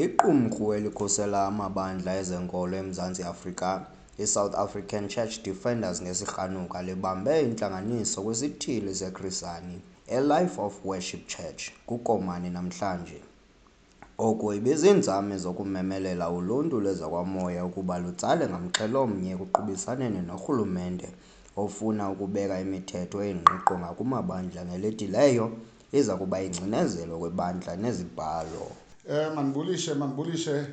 Iqumrhu elikhusela amabandla ezenkolo eMzantsi Afrika, iSouth African Church Defenders ngesirhanuka, libambe intlanganiso kwisithili seKrisani, eLife of Worship Church, kuKomani namhlanje. Oku ibiziinzame zokumemelela uluntu lwezakwamoya ukuba lutsale ngamxhel'omnye ekuqubisaneni norhulumente ofuna ukubeka imithetho engqiqo ngakumabandla ngeledileyo. Iza kuba yingcinezelo kwibandla nezibhalo. Eh mandibulishe mandibulishe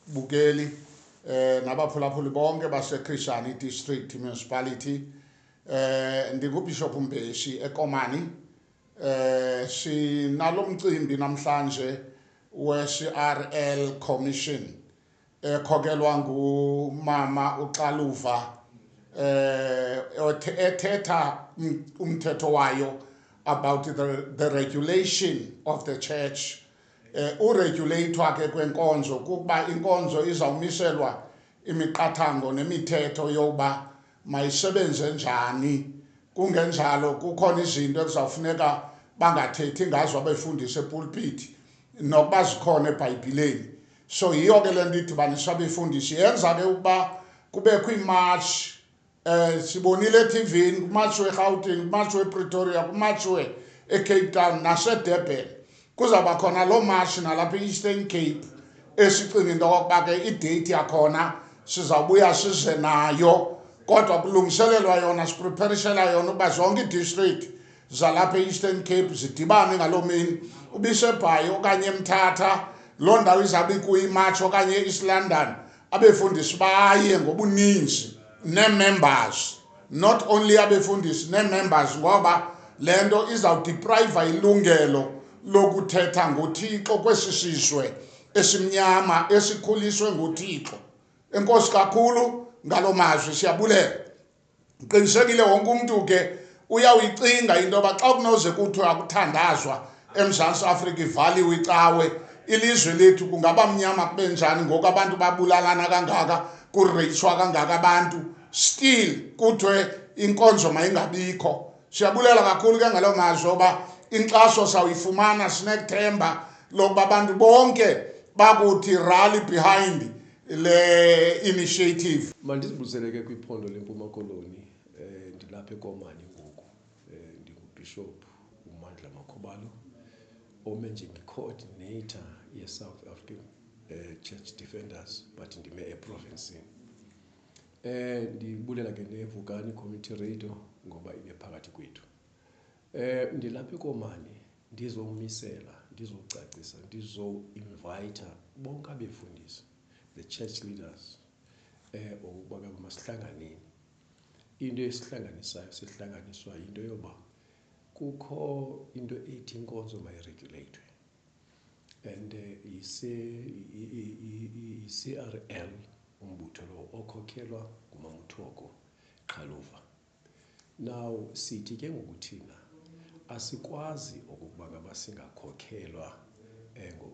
kubabukeli eh nabaphulaphuli bonke baseKhishani District Municipality eh ndinguBishop Mbeshi eKomani eh sinalomcimbi namhlanje weCRL Commission ekhokelwa ngumama uxaluva um ethetha umthetho wayo about the, the regulation of the church um uregulathwa ke kwenkonzo kukuba inkonzo izawumiselwa imiqathango nemithetho yokuba mayisebenze njani kungenjalo kukhona izinto ekuzawufuneka bangathethi ngazo abefundisi epulpiti nokuba zikhona ebhayibhileni so yiyo ke le nto idibanisa abefundisi yenza ke ukuba kubekho iimatshi um eh, sibonile etivini kumatshi werhawutini kumatshi wepretoria kumatshi we ecape town nasedurban kuzawuba khona loo matshi nalapha i-eastern cape esicinga into yokokuba ke ideyithi yakhona sizawubuya size nayo kodwa kulungiselelwa yona sipreparishela yona ukuba zonke idistrict zalapha e-eastern cape zidibane ngaloo mini ubisebhayi okanye emthatha loo ndawo izawube ikuyimarch okanye e-east london abefundisi baye ngobuninzi nee-members not only abefundisi nee-members ngoba le nto izawudiprayiva ilungelo lokuthetha ngothixo kwesi sizwe esimnyama esikhuliswe ngothixo enkosi kakhulu ngaloo mazwi siyabulela ndiqinisekile wonke umntu ke uyawuyicinga into yoba xa kunoze kuthiwe akuthandazwa emzantsi afrika ivaliwe icawe ilizwe lethu kungaba mnyama kube njani ngoku abantu babulalana kangaka kureyiswa kangaka abantu still kuthiwe inkonzo mayingabikho siyabulela kakhulu ke ngaloo mazwi oba inkxaso sawuyifumana sinethemba lokuba abantu bonke bakuthi rally behind le initiative mandizibuzele ke kwiphondo lempuma koloni um ndilapha ekomani ngoku um ndingubhishophu umandla makhubalo ome njengecoordinator yesouth african um church defenders but ndime eprovincini um ndibulela ke nevukani community radio ngoba ibe phakathi kwethu Um ndilapha eKomani ndizomisela, ndizocacisa, ndizoinvayitha bonke abefundisi, the church leaders um ukuba ke masihlanganeni. Into esihlanganisayo sihlanganiswa yinto yoba kukho into ethi inkonzo mayireguleyithwe and yi-C_R_L umbutho lowo okhokhelwa nguMamuthoko Qhaluva. Now sithi ke ngoku thina asikwazi okokuba ngaba singakhokelwa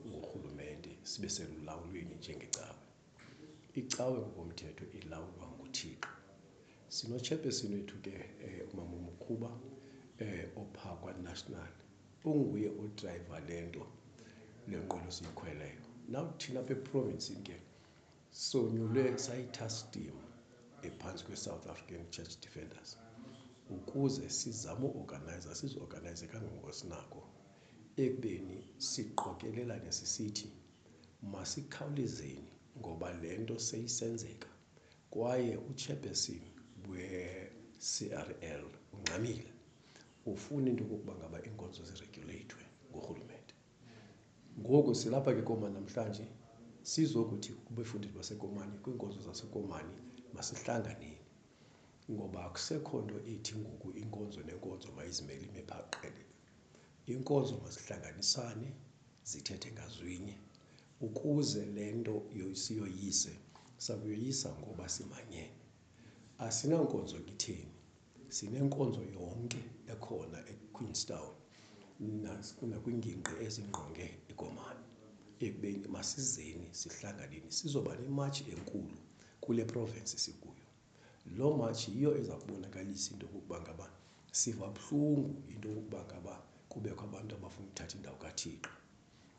ngurhulumente sibe selulawulweni njengecawe. Icawe ngokomthetho ilawulwa nguThixo. Sinotshepesini wethu ke umama uMkhuba opha kwaNational onguye odrayiva le nto, le nqwelo siyikhweleyo. Now thina apha eprovinsini ke. Sonyulwe sayi-task team ephantsi kweSouth African Church Defenders ukuze sizame uorganiza, siziorganize kangangoko sinako ekubeni siqokelelane sisithi masikhawulezeni ngoba le nto seyisenzeka kwaye uchairperson we-CRL ungxamile ufuna into yokokuba ngaba iinkonzo zireguleyithwe ngurhulumente. Ngoku silapha ke Komani namhlanje sizokuthi kubefundisi baseKomani kwiinkonzo zaseKomani masihlanganeni ngoba akusekho nto ethi ngoku inkonzo nenkonzo mayizimele ime phaa qelele. Inkonzo mazihlanganisane zithethe ngazwinye ukuze le nto siyoyise sakuyoyisa ngoba simanyene. Asinankonzo ngitheni. Sinenkonzo yonke ekhona eQueenstown nakwingingqi ezingqonge iKomani ekubeni masizeni sihlanganeni sizoba nematshi enkulu kule province sikuyo. Loo matshi yiyo eza kubonakalisa into yokokuba ngaba siva buhlungu into yokokuba ngaba kubekho abantu abafuna ukuthatha indawo kaThixo.